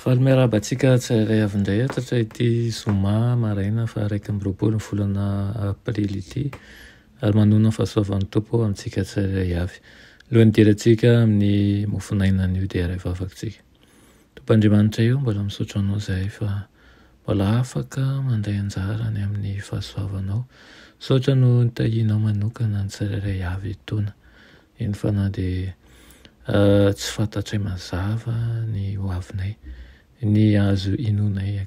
Faly miarahaba antsika tsirairay avy indray eto rehetra ity zoma maraina faha iraika amby roapolo ny volana aprily ity ary manoana ny fahasoavan'ny Tompo ho amintsika tsirairay avy. Alohan'ny hidirantsika amin'ny mofon'ainan'io dia iray vavaka isika. Tompo Andriamanitra io, mbola misaotra Anao izahay fa mbola afaka mandray anjara any amin'ny fahasoavanao. Misaotra noho ny tahianao manokana ny tsirairay avy etoana. Eny fa na dia tsy fantatray mazava ny ho avinay, ny azo inoanay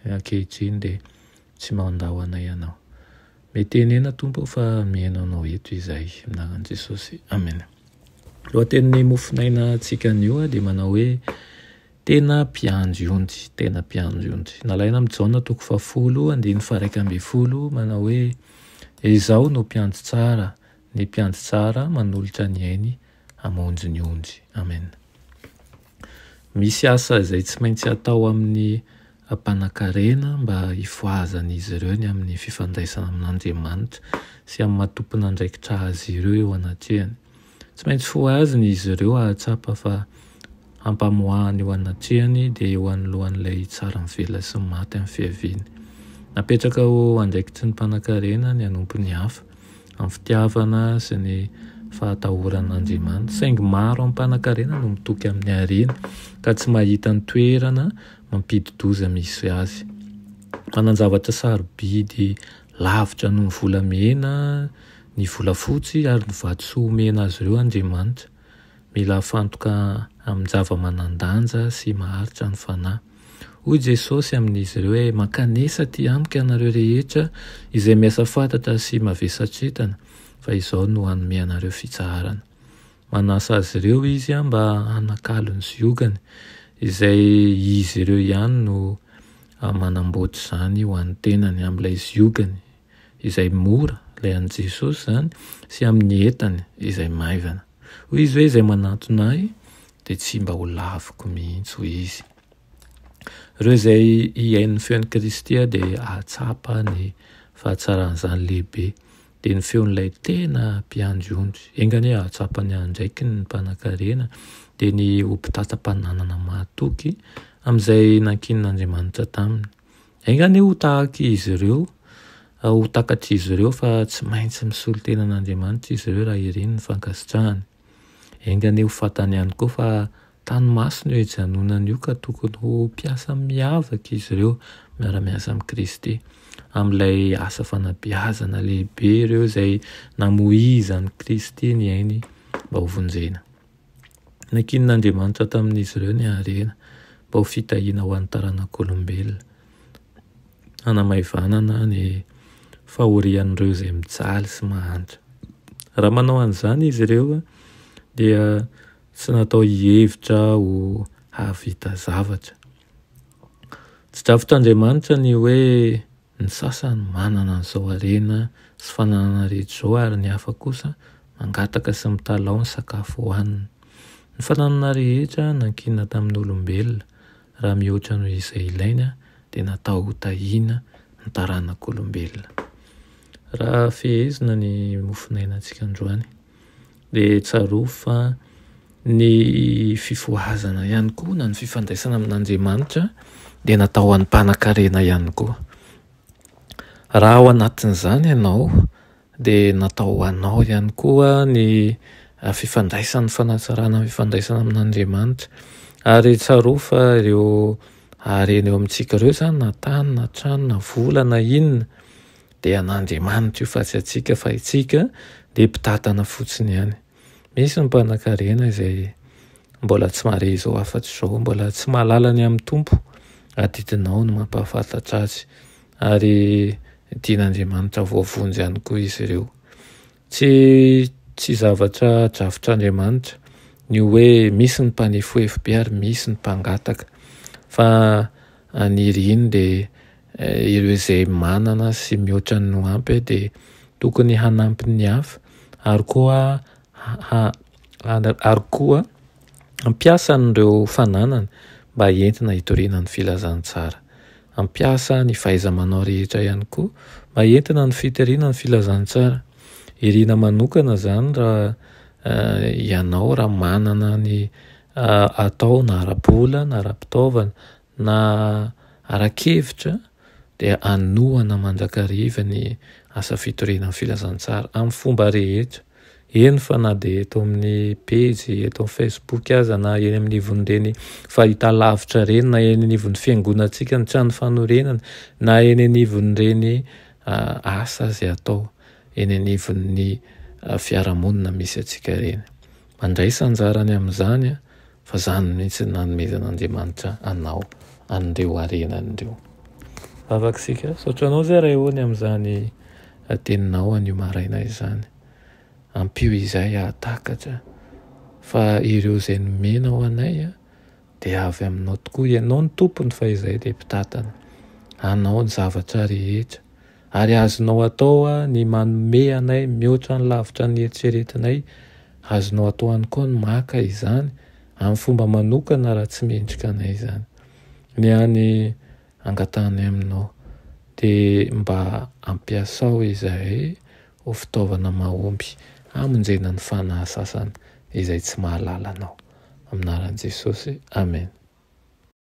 ankehitriny dia tsy mandao anay Ianao. Mety henena Tompo o fa mihaino Anao eto izahay. Amin'ny anaran'i Jesosy, amena. Ny lohatenin'ny mofonaina antsika anio dia manao hoe Tena Mpiandry Ondry, Tena Mpiandry Ondry. Nalaina amin'i Jaona toko fahafolo, andininy faharaika ambin'ny folo, manao hoe Izaho no mpiandry tsara, Ny mpiandry tsara manolotra ny ainy hamonjy ny ondry. Amen. Misy asa izay tsy maintsy atao amin'ny mpanankarena mba hifohazan'izy ireo ny amin'ny fifandraisana amin'Andriamanitra sy amin'ny maha tompon'andraikitra azy ireo eo anatrehany. Tsy maintsy fohazina izy ireo hahatsapa fa Ampamoahany eo anatrehany dia eo anoloan'ilay tsara mivela sy maty amin'ny fiaviany. Napetraka ho andraikitry ny mpanankarena ny hanompo ny hafa amin'ny fitiavana sy ny fahatahoran'Andriamanitra. Saingy maro amin'ny mpanankarena no mitoky amin'ny harena ka tsy mahita ny toerana mampidi-doza misy azy. Manan-javatra sarobidy lavitra noho ny volamena, ny volafotsy ary ny vatosoa omena azy ireo Andriamanitra. Mila hafantoka amin-java-manan-danja sy maharitra ny fanahy. Hoy Jesosy amin'izy ireo hoe, Mankanesa atỳ amiko ianareo rehetra izay miasa fatratra sy mavesatretana, fa izao no hanome anareo fitsaharana. Manasa azy ireo izy mba hanakalo ny ziogany, izay izy ireo ihany no manamboatra izany ho an'ny tenany, amin'ilay ziogany. izay mora, ilay an'i Jesosy izany, sy amin'ny entany izay maivana. Hoy izy hoe, Izay manantona ahy dia tsy mba ho laviko mihitsy, hoy izy. Ireo izay hihaino ny feon'i Kristy dia hahatsapa ny fahatsaran'izany lehibe. Dia ny feon'ilay tena mpiandry ondry. Enga anie hahatsapa ny andraikiny ny mpanankarena, dia ny ho mpitantsa-pananana mahatoky amin'izay nankinin'Andriamanitra taminy. Enga anie ho tahaka izy ireo, ho takatr'izy ireo fa tsy maintsy misolo tena an'Andriamanitra izy ireo raha ireny ny fankasitrahany. Enga anie ho fantany ihany koa fa tany masina io hijanonany io ka tokony ho mpiasa miavaka izy ireo miara-miasa amin'i Kristy amin'ilay asa fanabeazana lehibe ireo izay namoizan'i Kristy ny ainy mba hovonjena. Nankinin'Andriamanitra tamin'izy ireo ny harena mba ho fitahiana ho an'ny taranak'olombelona, hanamaivanana ny fahorian'ireo izay mijaly sy mahantra. Raha manao an'izany izy ireo dia tsy natao hihevitra ho hahavita zavatra. Tsy drafitr'Andriamanitra ny hoe Ny sasany manana an'izao harena sy fananana rehetra izao ary ny hafa kosa mangataka sy mitalaho ny sakafo hohaniny. Ny fananana rehetra nankinina tamin'ny olombelona raha mihoatra noho izay ilainy dia natao ho tahiana ny taranak'olombelona. Raha fehezina ny mofonainantsika androany. Dia tsarovy fa ny fifohazana ihany koa na ny fifandraisana amin'Andriamanitra dia natao ho an'ny mpanankarena ihany koa. Raha ao anatin'izany ianao dia natao ho anao ihany koa ny fifandraisana, ny fanatsarana ny fifandraisana amin'Andriamanitra. Ary tsarovy fa ireo harena eo amintsika ireo izany na tany na trano na vola na inona, Dia an'Andriamanitra io fa tsy antsika fa itsika dia mpitantana fotsiny ihany. Misy ny mpanan-karena izay mbola tsy mahare izao afa-tsy izao, mbola tsy mahalala ny amin'ny Tompo, adidinao no mampahafantatra azy ary dian'Andriamanitra voavonjy ihany koa izy ireo. Tsy tsy zavatra drafitr'Andriamanitra ny hoe misy ny mpanefoefo be ary misy ny mpangataka fa haniry iny dia eh, ireo izay manana sy mihoatra ny no ampy dia tokony hanampy ny hafa ary koa ha, ha, ary koa Ampiasa an'ireo fananany mba entina hitoriana ny filazantsara. Ampiasa ny fahaiza-manao rehetra ihany koa mba entina ny fitoriana ny filazantsara. Irina manokana izany raha ianao raha manana ny atao na ara-bola na ara-pitaovana Na ara-kevitra dia hanohana mandrakariva ny asa fitoriana ny filazantsara amin'ny fomba rehetra, eny fa na dia eto amin'ny pejy eto amin'ny Facebook aza na eny amin'ny ivon'ireny fahitalavitra ireny na eny anivon'ny fiangonantsika ny trano fanorenana na eny anivon'ireny asa izay atao eny anivon'ny fiarahamonina misy antsika ireny. Mandraisa anjarany amin'izany fa izany mihitsy no nanomezan'Andriamanitra anao an'ireo harenany ireo. Vavaka isika, misaotra anao zay Ray o ny amin'izany teninao an'io maraina izany. Ampio izahay hahatakatra fa ireo izay nomenao anay dia avy aminao tokoa, ianao no tompony fa izahay dia mpitatana, anao ny zavatra rehetra. Ary azonao atao ny manome anay mihoatra ny lavitra ny eritreretinay. Azonao atao ihany koa ny maka izany amin'ny fomba manokana raha tsy mendrika anay izany. Ny hany angatahanay aminao, dia mba ampiasao izahay ho fitaovana mahomby hamonjena ny fanahy sasany izay tsy mahalala anao. Amin'ny anaran'i Jesosy, amena.